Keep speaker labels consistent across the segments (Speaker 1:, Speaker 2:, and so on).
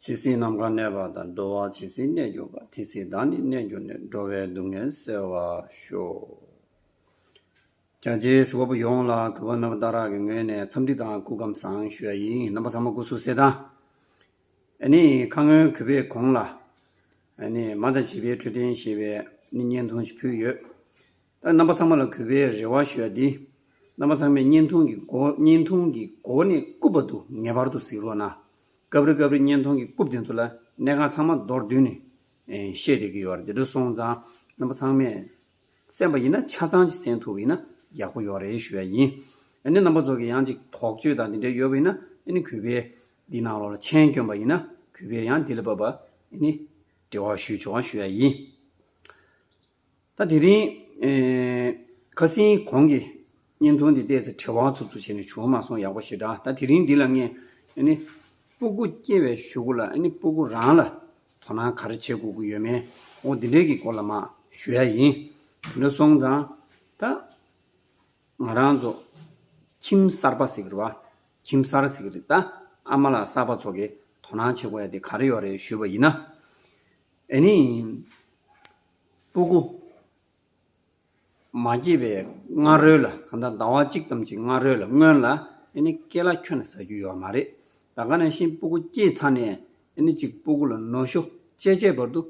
Speaker 1: ཇི་སྲིད་ནམ་མཁའ་གནས་པ་དང་འགྲོ་བ་ཇི་སྲིད་གནས་གྱུར་པ་དེ་སྲིད་བདག་ནི་གནས་གྱུར་ནས་འགྲོ་བའི་སྡུག་བསྔལ་སེལ་བར་ཤོག། རྒྱ་རྗེའི་སྲས་པོ་ཡོངས་ལ་གུས་པ་རྣམ་དག་རག་གི་ངོས་ནས་འཚམས་འདྲི་དང་སྐུ་ཁམས་བཟང་ཞུ་བ་ཡིན། རྣམ་པ་ཚང་མ་སྐུ་གཟུགས་གསལ་ཐང། ཨ་ནི་ཁ་སྔོན་གུས་པས་གོང་ལ། ནས་མ་དང་བྱིས་པའི་འཕྲོད་བསྟེན་ཞེས་པའི་བརྙན་ཐུང་ཞིག་ཕུལ་ཡོད། ད་རྣམ་པ་ཚང་མ་ལ་གུས་པའི་རེ་བ་ཞུ་ཡ་འདི། རྣམ་པ་ཚང་མས་བརྙན་ཐུང་གི་སྒོ་བརྙན་ཐུང་གི་སྒོ་ནས་རྐུབ་པ་འདུག་ངེས་པར་དུ་གཟིགས་རོགས་གནང། སྐབས་རེ་སྐབས་རེ་བརྙན་ཐུང་གི་རྐུབ་དེ་ཚོ་ལ་གནས་ཁང་ཚང་མ་མདོར་བསྡུས་ནས་བཤད་བསྡད་ཀྱི་ཡོད་རེད་དེ་འདྲ་སོང་ཙང་རྣམ་པ་ཚང་མས་གསན་པ་ཡིན་ན་ཆ་ཚང་ཅིག་གསན་ཐུབ་པ་ཡིན་ན་ཡག་པོ་ཡོད་རེད་ཞུ་ཡ་ཡིན། ནས་རྣམ་པ་ཚོ་གི་ཡང་ཅིག་དོགས་གཅོད་དང་དེ་འདྲ་ཡོད་པ་ཡིན་ན་ནས་གུས་པའི། འདི་ནང་ལོགས་ལ་མཆན་བསྐྱོན་པ་ཡིན་ན་གུས་པས་ཡང་འདི་ལ་བབ་པ་ནི་འབྲེལ་བ་ཞུ་ཆོག་ཞུ་ཡ་ཡིན། ད་དེ་རིང་ཁ་སིན་གོང་གི་བརྙན་ཐུང་འདི་བལྟས་ཚེ་བྲེལ་བ་ཚུབ་ཚུབ་བྱས་ནས་བྱུང་མ་སོང་ཡག་པོ་ཞེ་དྲག་ད་དེ་རིང་འདི་ལ་ངས་སྤུ་གུ་སྐྱེ་བའི་ཞུ་གུ་ལ་སྤུ་གུ་རང་ལ་དོ་སྣང་ག་རེ་བྱེད་དགོས་ཀྱི་ཡོད་མེད་འོ་འདི་འདྲས་ཀྱི་སྐོར་ལ་མ་ཞུ་ཡ་ཡིན། དེ་འདྲ་སོང་ཙང་ད། ང་རང་ཚོ་ཁྱིམ་གསར་པ་ཟིག་རེད་བ། ཁྱིམ་གསར་ཟིག་རེད་ད། ཨ་མ་ལགས་གསར་པ་ཚོ་གི་དོ་སྣང་བྱེད་དགོས་ཡ་དེ་ག་རེ་ཡོད་རེད་ཞུས་པ་ཡིན་ན། ཨེ་ནི། སྤུ་གུ། མ་སྐྱེས་པའི་སྔ་རོལ་ལ་གང་ལྟར་ཟླ་བ་གཅིག་ཙམ་གྱི་སྔ་རོལ་ལ་སྔོན་ལ་ཨེ་ནི་སྐེ་ལ་ཁྱོད་ནས་ཟ་རྒྱུ་ཡོད་མ་རེད། ད་ག་ནས་ཤིན་སྤུ་གུ་སྐྱེས་ཚར་ནས་ཨེ་ནི་ཅིག་སྤུ་གུ་ལ་ནོར་ཤོ་ཅེ་ཅེ་བར་དུ།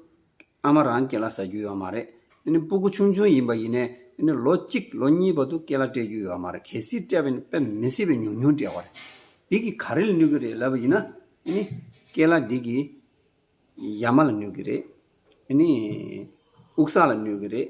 Speaker 1: ཨ་མ་རང་སྐེ་ལ་ཟ་རྒྱུ་ཡོད་མ་རེད། སྤུ་གུ་ཆུང་ཆུང་ཡིན་པ་ཡིན་ནས། ལོ་གཅིག་ལོ་གཉིས་བར་དུ་སྐེ་ལ་སྤྲད་རྒྱུ་ཡོད་མ་རེད། གལ་སྲིད་སྤྲད་པས་ན་མི་སྲིད་པས་ཉུང་ཉུང་སྤྲད་བ་རེད། འདི་གིས་ག་རེ་ལ་ནུས་ཀྱི་རེད་ལབ་པ་ཡིན་ན། སྐེ་ལ་འདི་གིས་ཡ་མ་ལ་ནུས་ཀྱི་རེད། དབུགས་ས་ལ་ནུས་ཀྱི་རེད།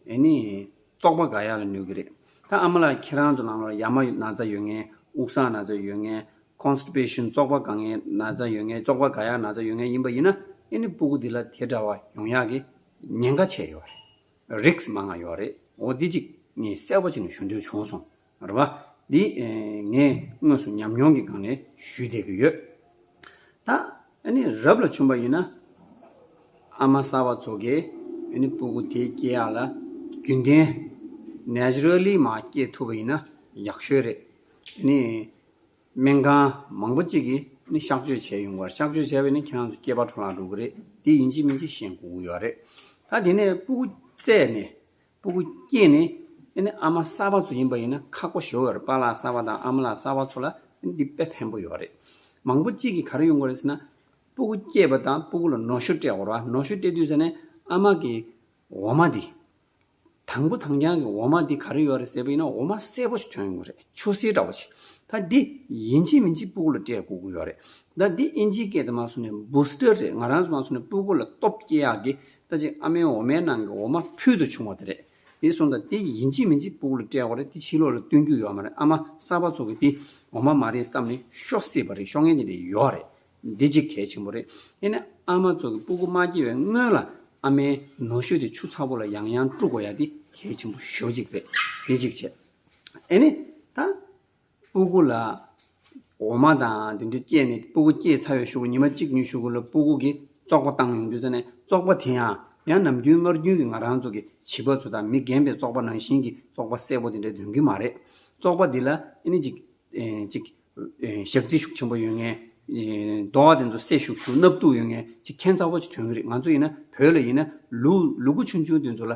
Speaker 1: ཨེ་ནི། བཙོག་པ་འགའ་ཡག་ལ་ནུས་ཀྱི་རེད། ད་ཨ་མ་ལགས་ཁྱེད་རང་ཚོ་ནང་ལོར་ཡ་མ་ན་ཚ་ཡོད་ངེས། དབུགས་སངས་ན་ཚ་ཡོད་ངེས། Constipation བཙོག་པ་འགའ་ངེས་ན་ཚ་ཡོད་ངེས་བཙོག་པ་འགའ་ཡག་ན་ཚ་ཡོད་ངེས་ཡིན་པ་ཡིན་ན་ཨེ་ནི་སྤུ་གུ་འདི་ལ་དེ་འདྲ་བ་ཡོང་ཡག་གི་ཉེན་ཁ་ཆེ་ཡོད་རེད། Risk མང་ང་ཡོད་རེད་འོ་འདི་གཅིག་ངས་གསལ་བོ་ཅིག་ནས་ཞུ་འདོད་བྱུང་སོང་རེད་བ། འདི་ངས་དངོས་སུ་ཉམས་མྱོང་གི་སྒང་ནས་ཞུས་བསྡད་ཀྱི་ཡོད། ད། ཨ་ནི་རབ་ལ་བྱུང་བ་ཡིན་ན། ཨ་མ་གསར་བ་ཚོ་གས་ཨ་ནི་སྤུ་གུ་དེ་སྐྱེས་ཡག་ལ་རྒྱུན་ལྡན། Naturally། མ་སྐྱེས་ཐུབ་པ་ཡིན་ན་ཡག་ཤོས་རེད། ཨ་ནི་སྨན་ཁང་མང་པོ་གཅིག་གིས་ཨ་ནི་གཤག་བཅོས་བྱས་ཡོང་བར་གཤག་བཅོས་བྱས་པས་ནི་ཁྱེད་རང་ཚོ་སྐྱེས་པ་འཕྲོ་བརླག་འགྲོ་གི་རེད་དེ་ཡིན་གཅིག་མིན་གཅིག་བཤད་འགོ་འུ་ཡོད་རེད། ད་དེ་ནས་སྤུ་གུ་བཙས་ནས་སྤུ་གུ་སྐྱེས་ནས། དེ་ནི་ཨ་མ་གསར་པ་ཚོ་ཡིན་པ་ཡིན་ན་ཁག་པོ་ཞོག་ཡོད་རེད་པཱ་ལགས་གསར་པ་དང་ཨ་མ་ལགས་གསར་པ་ཚོ་ལ་འདི་དཔེ་ཕན་པོ་ཡོད་རེད། མང་པོ་གཅིག་གིས་ག་རེ་ཡོང་གི་རེད་ཟེར་ན། སྤུ་གུ་སྐྱེས་པ་དང་སྤུ་གུ་ལ་ནོར་ཤུགས་སྤྲད་དགོས་ར་ནོར་ཤུགས་སྤྲད་དུས་ཟེར་ནས་ཨ་མ་གི་འོ་མ་འདི། དང་པོ་དང་རྐྱང་གི་འོ་མ་འདི་ག་རེ་ཡོད་རེད་ཟེར་པ་ཡིན་ན་འོ་མ་གསལ་པོ་ཞིག་ཐོན་ཡོང་གི་རེད་ཆུ་སེར་འདྲ་བོ་ཞིག་ད་འདི་ཡིན་གཅིག་མིན་གཅིག་སྤུ་གུ་ལ་སྤྲད་དགོས་ཀྱི་ཡོད་རེད་ད་འདི་ཨིན་ཇི་སྐད་དུ་མ་སོང་ནས Booster རེད་ང་རང་ཚོ་མ་སོང་ནས་སྤུ་གུ་ལ་སྟོབས་སྐྱེད་ཡག་གི་ལྟ་ཅིག་ཨ་མའི་འོ་མའི་ནང་གི་འོ་མ་ཕུལ་དུ་བྱུང་བ་དེ་རེད། དེ་སོང་དང་དེ་ཡིན་གཅིག་མིན་གཅིག་སྤུག་ལ་སྤྲད་བ་རེད་དེ་ཕྱི་ལོག་ལ་བསྟུན་རྒྱུ་ཡོད་མ་རེད་ཨ་མ་གསར་པ་ཚོ་གིས་དེ་འོ་མ་མ་རེད་བསམ་ནས་ཤོག་སྲིད་པ་རེད་ཤོག་ངན་ཅན་དེ་ཡོད་རེད། འདི་གཅིག་གལ་ཆེན་པོ་རེད། དེ་ནས་ཨ་མ་ཚོ་གིས་སྤུ་གུ་མ་སྐྱེ་བའི་སྔོན་ལ་ཨ་མའི་ནོ་ཤོས་དེ་ཆུ་ཚ་པོ་ལ་ཡང་ཡང་བཀྲུ་དགོས་ཡ་དེ་གལ་ཆེན་པོ་ཞོ་གཅིག་རེད། དེ་གཅིག་བྱས། དེ་ནས་ད། སྤུ་གུ་ལ། འོ་མ་དང་དེ་འདྲ་བསྐྱེད་ནས་སྤུ་གུ་བསྐྱེད་ཚར་བའི་ཤོག་བུ་ཉི་མ་གཅིག་ཉི་ཤུ་གུ་ལ་སྤུ་གུ་གི་བཙོག་པ་བཏང་ཡོང་རྒྱུ་ཚར་ནས་བཙོག་པ་དེ་ཡང་ཡང་ནམ་རྒྱུན་སྔར་རྒྱུན་གྱི་ང་རང་ཚོ་གི་བྱིས་པ་ཚོ་དང་མི་རྒན་པའི་བཙོག་པ་ནང་བཞིན་གྱི་བཙོག་པ་སེར་པོ་དེ་འདྲ་འདོན་གྱི་མ་རེད། བཙོག་པ་འདི་ལ་ཨེ་ནི་ཅིག། ཅིག། ཞག་རྩི་ཤུགས་ཆེན་པོ་ཡོད་ངེས། རྡོ་བ་དེ་ཚོ་སེར་ཤུག་ཤུག་སྣབས་སྟུག་ཡོད་ངེས་ཅིག་མཁྱེན་ཚ་བོ་ཅིག་ཐོན་གྱི་རེད་ང་ཚོ་ཡིན་ན་བོད་ལ་ཡིན་ན་ལུག་ལུག་གུ་ཆུང་ཆུང་དེ་ཚོ་ལ།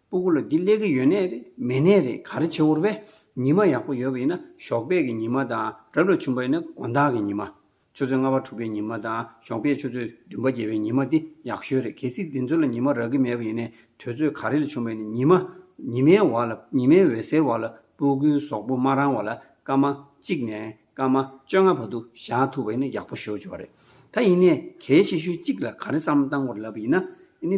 Speaker 1: སྤུ་གུ་ལ་འདི་སླེ་གི་ཡོད་ནད་རེད་མེད་ནད་རེད་ག་རེ་བྱེད་འོར་བས། ཉི་མ་ཡག་པོ་ཡོད་པ་ཡིན་ན་ཞོགས་པད་ཀྱི་ཉི་མ་དང་རབ་ལ་བྱུང་པ་ཡིན་ན་དགོན་བདག་གི་ཉི་མ། ཆུ་ཚོད་ལྔ་པ་དྲུག་པའི་ཉི་མ་དང་ཞོགས་པད་ཆུ་ཚོད་བདུན་པ་བརྒྱད་པའི་ཉི་མ་འདི་ཡག་ཤོས་རེད་གལ་སྲིད་འདི་ཚོ་ལ་ཉི་མ་རག་གི་མེད་པ་ཡིན་ནད་དོད་ཚོད་ག་རེ་ལ་བྱུང་བས་ནི་ཉི་མ། ཉི་མའི་བར་ལ་ཉི་མའི་འོད་ཟེར་བར་ལ་སྤུ་གུའི་ཟོག་པོ་མ་རང་བ་ལ་སྐར་མ་གཅིག་ནས་སྐར་མ་བཅོ་ལྔ་བར་དུ་བཞག་ཐུབ་པ་ཡིན་ན་ཡག་པོ་ཤོས་བྱུང་བ་རེད། ད་ཡིན་ནད་གལ་ཆེ་ཤོས་གཅིག་ལ་ག་རེ་བསམ་བཏང་བར་ལབ་པ་ཡིན་ན་ནི།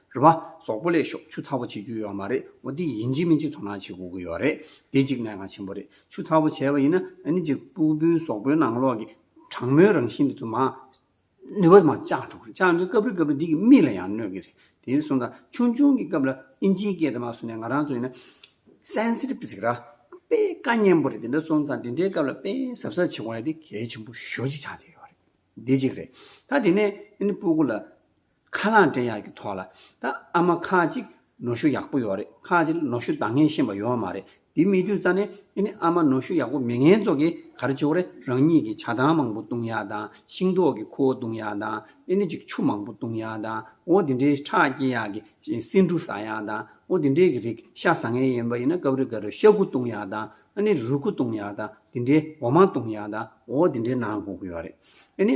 Speaker 1: རེད་བ། ཟོག་པོ་ལས་ཤོག་ཆུ་ཚ་བོ་བྱེད་རྒྱུ་ཡོད་མ་རེད་བ་འདི་ཡིན་གཅིག་མིན་གཅིག་དོ་སྣང་བྱེད་དགོས་ཀྱི་ཡོད་རེད་དེ་གཅིག་གནད་འགག་ཆེན་པོ་རེད་ཆུ་ཚ་བོ་བྱས་བ་ཡིན་ན་ནི་གཅིག་སྤུག་བདུན་ཟོག་པོའི་ནང་ལོག་གི་གྲང་མོའི་རང་བཞིན་དེ་ཚོ་མང་ནུས་བ་མང་བཅག་འགྲོ་གི་རེད་བཅག་འདོད་སྐབས་རེ་སྐབས་རེ་འདི་གི་མིག་ལ་ཡང་གནོད་ཀྱི་རེད་དེ་ནི་སོང་ཙང་ཆུང་ཆུང་གི་སྐབས་ལ་ཨིན་ཇིའི་སྐད་དེ་མ་སོང་ནས་ང་རང་ཚོ་ཡིན་ན། Sensitive ཟེར་གི་ར། དཔེ་དཀའ་སྙན་པོ་རེད་དེ་འདྲ་སོང་ཙང་དེ་འདྲའི་སྐབས་ལ་དཔེ་ཟབ་ཟབ་བྱེད་དགོས་ན་དེ་གལ་ཆེན་པོ་ཞོ་གཅིག་ཆགས་བསྡད་ཡོད་རེད་དེ་གཅིག་རེད་ད་དེ་ནས་ཨ་ནི་སྤུག་གུ་ལ་ཁ་ལག་འདྲེན་ཡག་གི་ཐོག་ལ་ད་ཨ་མ་ཁ་ཅིག་ནོར་ཤུགས་ཡག་པོ་ཡོད་རེད་ཁ་ཅིག་ལ་ནོར་ཤུགས་འདང་ངེས་ཤེས་པ་ཡོད་མ་རེད་དེ་མི་དུས་རྩ་ནས་ཨེ་ནི་ཨ་མ་ནོར་ཤུགས་ཡག་པོ་མི་ངན་ཚོ་གི་ག་རེ་བྱེད་རེད་རང་ཉིད་ཀྱི་བྱ་ཐང་མང་པོ་བཏུང་ཡག་དང་ཤིང་ཏོག་གི་ཁུ་བོ་བཏུང་ཡག་དང་ཨེ་ནི་ཅིག་ཆུ་མང་པོ་བཏུང་ཡག་དང་འོ་དེ་འདྲའི་ཁྲག་སྐྱེ་ཡག་གི་སེ་འབྲུ་ཟ་ཡག་དང་འོ་དེ་འདྲའི་གི་རིག་ཤ་ཟ་ངེས་ཡིན་པ་ཡིན་ན་སྐབས་རེ་ག་རེ་ཤ་ཁུ་བཏུང་ཡག་དང་ཨེ་ནི་རུས་ཁུ་བཏུང་ཡག་དང་དེ་འདྲའི་འོ་མ་བཏུང་ཡག་དང་འོ་དེ་འདྲའི་ནང་དགོས་ཀྱི་ཡོད་རེད་ཨེ་ནི།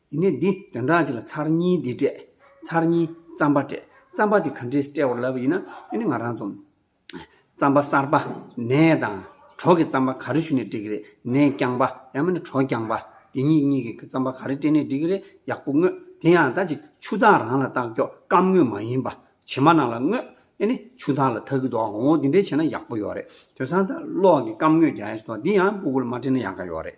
Speaker 1: དེ་ནས་འདི་དོན་དག་ཅིག་ལ་ཚར་གཉིས་འདི་སྤྲད། ཚར་གཉིས། རྩམ་པ་སྤྲད། རྩམ་པ་དེ་ག་འདྲས་སྤྲད་བར་ལབ་པ་ཡིན་ན་དེ་ནི་ང་རང་རྩོམ། རྩམ་པ་གསར་པ། ནས་དང། གྲོག་གི་རྩམ་པ་ག་རེ་ཞུ་ནས་སྤྲད་གི་རེད། ནས་རྐྱང་པ། ཡང་མིན་ན་གྲོག་རྐྱང་པ། དེ་གཉིས་གཉིས་ཀྱི་གི་རྩམ་པ་ག་རེ་སྤྲད་ནས་འགྲིག་གི་རེད་ཡག་པོ་དངོས། དེ་ཡང་ད་ཅིག་ཆུ་དག་རང་ལ་བཏགས་རྒྱོག་སྐམ་དངོས་མ་ཡིན་པ། བྱེ་མ་ནང་ལ་དངོས། ཨེ་ནི་ཆུ་དག་ལ་ཐག་གི་འདུག་ཨོ་འོ་འདི་འདྲས་བྱས་ན་ཡག་པོ་ཡོག་རེད། དོས་སང་ད་གློག་གི་སྐམ་དངོས་རྒྱ་ཡས་སུ་ཐོག་འདི་ཡང་སྤུ་གུ་ལ་མ་སྤྲད་ན་ཡག་ག་ཡོག་རེད།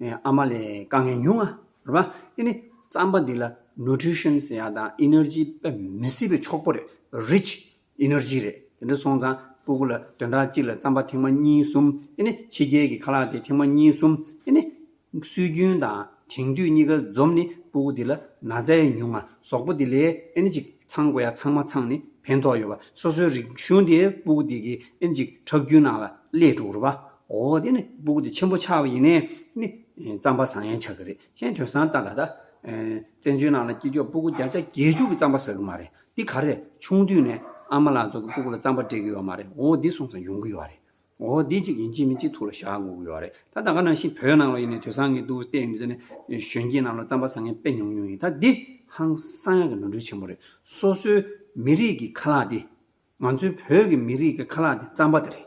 Speaker 1: ཨ་མ་ལས་དཀའ་ངལ་ཉུང་ང་རེད་པ། དེ་ནི་རྩམ་པ་འདི་ལ Nutrition ཟེར་ཡག་དང Energy དཔེ་མི་སྲིད་པའི་མཆོག་པོ་རེད Rich Energy རེད་དེ་འདྲ་སོང་ཙང་སྤུ་གུ་ལ་དོན་དག་གཅིག་ལ་རྩམ་པ་ཐེངས་མ་གཉིས་གསུམ་དེ་ནི་ཕྱི་རྒྱལ་གྱི་ཁ་ལག་དེ་ཐེངས་མ་གཉིས་གསུམ་དེ་ནི། སྲོལ་རྒྱུན་དང་དེང་དུས་གཉིས་ཀ་འཛོམས་ནི་སྤུ་གུ་འདི་ལ་ན་ཚ་ཡ་ཉུང་ང་ཟོག་པོ་འདི་ལས་ཨེ་ནི་ཅིག་ཚང་དགོས་ཡ་ཚང་མ་ཚང་ནི་ཕན་ཐོག་ཡོད་པ་སོ་སོའི་རིག་གཞུང་དེ་སྤུ་གུ་འདི་གི་ཨེ་ནི་ཅིག་ཁྲག་རྒྱུན་ནང་ལ་སླེས་འགྲོ་རེད་པ། ཨོ་དེ་ནི་སྦུག་དེ་ཆེན་པོ་ཆགས་པ་ཡིན་ནས་ནི། རྩམ་པ་བཟང་ཡང་ཆགས་ཀྱི་རེད་ཤེས་དོན་བཟང་ལྟ་ལ་ད། བཙན་བྱོལ་ནང་ལ་སྐྱིད་ཆོག་སྤུག་བརྒྱ་ཆ་བརྒྱད་ཅུ་གི་རྩམ་པ་ཟ་གི་མ་རེད་འདི་ག་རེད་ཆུང་དུས་ནས་ཨ་མ་ལགས་ཚོ་གི་སྤུག་ལ་རྩམ་པ་སྤྲད་ཀྱི་ཡོད་མ་རེད་འོ་འདི་སོང་ཙང་ཡོང་གི་ཡོད་རེད་འོ་འདི་ཅིག་ཡིན་གཅིག་མིན་གཅིག་ཐུག་ལ་བཞག་འགོ་གི་ཡོད་རེད་ད་ད་ག་ནང་བཞིན་བོད་ནང་ལ་ཡིན་ནས་དུས་བཟང་གི་འདུག་བལྟས་ཡོད་ནི་གཞོན་སྐྱེས་རྣམས་ལ་རྩམ་པ་བཟང་ངན་དཔེ་ཉུང་ཉུང་ཡིན་ད་འདི་ཧང་སང་ཡག་གི་ནོར་འཁྲུལ་ཆེན་པོ་རེད་སོ་སོའི་མི་རིགས་ཀྱི་ཁ་ལག་འདི། ང་ཚོའི་བོད་ཀྱི་མི་རིགས་ཀྱི་ཁ་ལག་འདི་རྩམ་པ་དེ་རེད།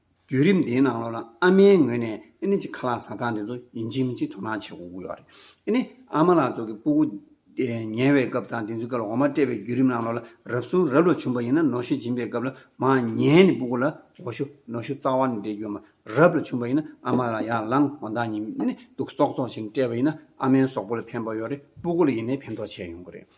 Speaker 1: བརྒྱུད་རིམ་དེའི་ནང་ལོ་ན་ཨ་མའི་ངོས་ནས་ཨེ་ནི་ཅི་ཁ་ལག་ཟ་སྟངས་དེ་ཚོ་ཡིན་གཅིག་མིན་གཅིག་དོ་སྣང་བྱེད་དགོས་ཀྱི་ཡོད་རེད། ཨེ་ནི་ཨ་མ་ལགས་ཚོ་གི་སྤུ་གུ་ཉལ་བའི་སྐབས་དང་དེ་ཚོའི་སྐབས་ལ་འོ་མ་སྤྲད་པའི་བརྒྱུད་རིམ་ནང་ལོ་ལ་རབ་གསུང་རབ་ལོ་བྱུང་པ་ཡིན་ན་ནོ་ཤུ་སྦྱིན་པའི་སྐབས་ལ་མ་ཉལ་ནི་སྤུ་གུ་ལ་འོ་ཤུ་ནོ་ཤུ་རྩ་བ་ནས་འདྲེས་རྒྱུ་མ་རབ་ལོ་བྱུང་པ་ཡིན་ན་ཨ་མ་ལ་ཡར་ལངས་འོ་མདངས་ཉིན་ནི་དུག་ཙོག་ཙོག་ཅིག་སྤྲད་པ་ཡིན་ན་ཨ་མའི་ཟོག་པོ་ལ་ཕན་པ་ཡོད་རེད་སྤུ་གུ་ལ་ཡིན་ནའི་ཕན་ཐོགས་ཆེ་ཡོང་གི་རེད།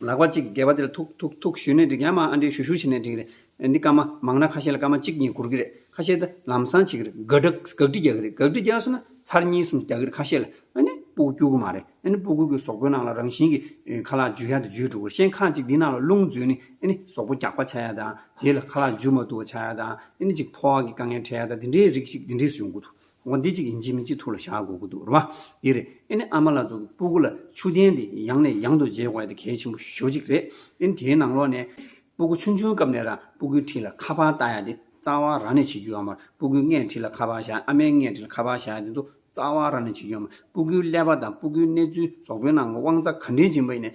Speaker 1: ལག་པ་གཅིག་སྒལ་པ་དེར་ཐུག་ཐུག་ཐུག་བཞུས་ནས་འགྲིག་ཡང་མ་ཨ་འདྲས་བཞུ་བཞུ་བྱས་ནས་འགྲིག་རེད་འདི་སྐར་མ་མང་ན་ཁ་ཤས་ལ་སྐར་མ་གཅིག་གཉིས་འགོར་གི་རེད་ཁ་ཤས་ད་ལམ་སང་བྱེད་ཀྱི་རེད་འགག་འགག་འགག་འགྲིག་རྒྱག་གི་རེད་འགག་འགྲིག་རྒྱག་སོང་ན་ཚར་གཉིས་གསུམ་རྒྱག་གི་རེད་ཁ་ཤས་ལ་ཨ་ནི་སྤུ་སྐྱུག་གི་མ་རེད་ཨ་ནི་སྤུ་སྐྱུག་གི་ཟོག་པོའི་ནང་ལ་རང་བཞིན་གྱི་ཁ་ལག་འཇུ་ཡ་དེ་འཇུས་འགྲོ་གི་རེད་ཤེས་ཁ་ཅིག་འདིའི་ནང་ལ་རླུང་འཛུལ་ནི་ཨ་ནི་ཟོག་པོ་རྒྱག་པ་བྱ་ཡ་དང་དེའི་ལ་ཁ་ལག་འཇུ་མ་ཐུབ་བ་བྱ་ཡ་དང་ཨ་ནི་ཅིག་ཐོག་གི་དཀའ་ངལ་འཕྲད་ཡ་དང་འདི་འདྲའི་རིགས་ཤིག་འདི་འདྲས་བཟོས་འགོ་ཐུག་ངོ་འདི་གཅིག་ཡིན་གཅིག་མིན་གཅིག་ཐུགས་ལ་བཞག་དགོས་ཀྱི་འདུག་རེད་བ། དེ་རེད། ཨེ་ནི་ཨ་མ་ལགས་ཚོ་གི་སྤུ་གུ་ལ་ཆུ་ལྡན་དེ་ཡང་ནས་ཡང་དུ་འཇལ་དགོས་ཡ་དེ་གལ་ཆེན་པོ་ཞོ་གཅིག་རེད། ཨེ་ནི་དེའི་ནང་ལོགས་ནས། སྤུ་གུ་ཆུང་ཆུང་སྐབས་ནས་རང་སྤུ་གུའི་འཁྲིས་ལ་ཁ་པར་བལྟ་ཡ་དེ་རྩ་བ་རང་ནས་བྱེད་རྒྱུ་ཡོད་མར་སྤུ་གུའི་སྔས་འཁྲིས་ལ་ཁ་པར་བཞག་ཨ་མའི་སྔས་འཁྲིས་ལ་ཁ་པར་བཞག་དེ་ཚོ་རྩ་བ་རང་ནས་བྱེད་རྒྱུ་ཡོད་མར་སྤུ་གུའི་ཀླད་པ་དང་སྤུ་གུའི་གནས་ཚུལ་ཟོག་པོའི་ནང་གི་དབང་རྩ་ག་འདྲའི་སྦྱིན་པ་ཡིན་ནས་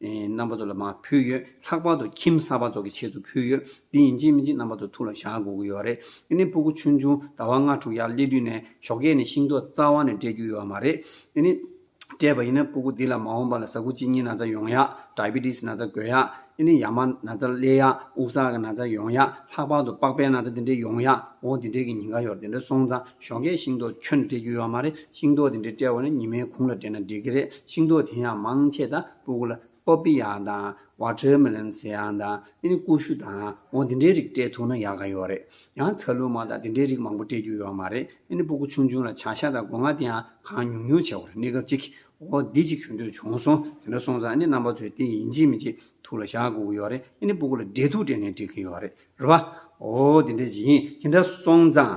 Speaker 1: རྣམ་པ་ཚོ་ལ་མ་ཕུལ་ཡོད། ལྷག་པར་དུ་ཁྱིམ་གསར་པ་ཚོ་གི་ཆེད་དུ་ཕུལ་ཡོད། དེ་ཡིན་གཅིག་མིན་གཅིག་རྣམ་པ་ཚོ་ཐུགས་ལ་བཞག་དགོས་ཀྱི་ཡོད་རེད། དེ་ནི་སྤུ་གུ་ཆུང་ཆུང་ཟླ་བ་ལྔ་དྲུག་ཡར་སླེབས་དུས་ནས་ཞོགས་ཁས་ནས་ཤིང་ཏོག་རྩ་བ་ནས་སྤྲད་རྒྱུ་ཡོད་མ་རེད། དེ་ནི། སྤྲད་པ་ཡིན་ན་སྤུ་གུ་འདི་ལ་མ་འོངས་པ་ལ་ཟ་ཁུ་གཅིག་གཉིས་ན་ཚ་ཡོང་ཡག། Diabetes། ན་ཚ་འགོས་ཡག། དེ་ནི་ཡ་མ་ན་ཚ་སླེ་ཡག། དབུགས་བཟག་གི་ན་ཚ་ཡོང་ཡག། ལྷག་པར་དུ་པགས་པའི་ན་ཚ་འདི་འདྲའི་ཡོང་ཡག། འོ་འདི་འདྲའི་གི་ཉིན་འགའ་ཡོར་འདི་འདྲའི་སོང་ཙང། ཞོགས་ཀའི་ཤིང་ཏོག་ཁྱོད་སྤྲད་རྒྱུ་ཡོད་མ་རེད་ཤིང་ཏོག་དེ་འདྲ་སྤྲད་འོང་ན་ཉི་མའི་གུང་ལ་སྤྲད་ན་འགྲིག་གི་རེད་ཤིང་ཏོག་དེ་ཡང་མང་ཆེ་དང་སྤུ་གུ་ལ། Poppy། དང། Watermelon། ཟེར་ཡང་དང་དེ་ནི་ཀུ་ཤུ་དང་འོ་དེ་འདྲའི་རིགས་སྤྲད་ཐུབ་ན་ཡག་ག་ཡོད་རེད་ཡང་ཚ་ལུ་མ་དང་དེ་འདྲའི་རིགས་མང་པོ་སྤྲད་རྒྱུ་ཡོད་མ་རེད་དེ་ནི་སྤུ་གུ་ཆུང་ཆུང་ལ་བྱ་ཤ་དང་སྒོ་ང་དེ་ཡང་གང་ཉུང་ཉུང་བྱས་བར་གནས་སྐབས་ཅིག་འོ་འདི་ཅིག་ཞུ་འདོད་བྱུང་སོང་དེ་འདྲ་སོང་ཙང་ནི་རྣམ་པ་ཚོས་དེ་ཡིན་གཅིག་མིན་གཅིག་ཐུགས་ལ་བཞག་དགོས་ཀྱི་ཡོད་རེད་དེ་ནི་སྤུ་གུ་ལ་འབྲས་ཐུག་སྤྲད་ནས་འགྲིག་གི་ཡོད་རེད་རེད་བ། འོ་དེ་འདྲ་ཡིན་དེ་འདྲ་སོང་ཙང།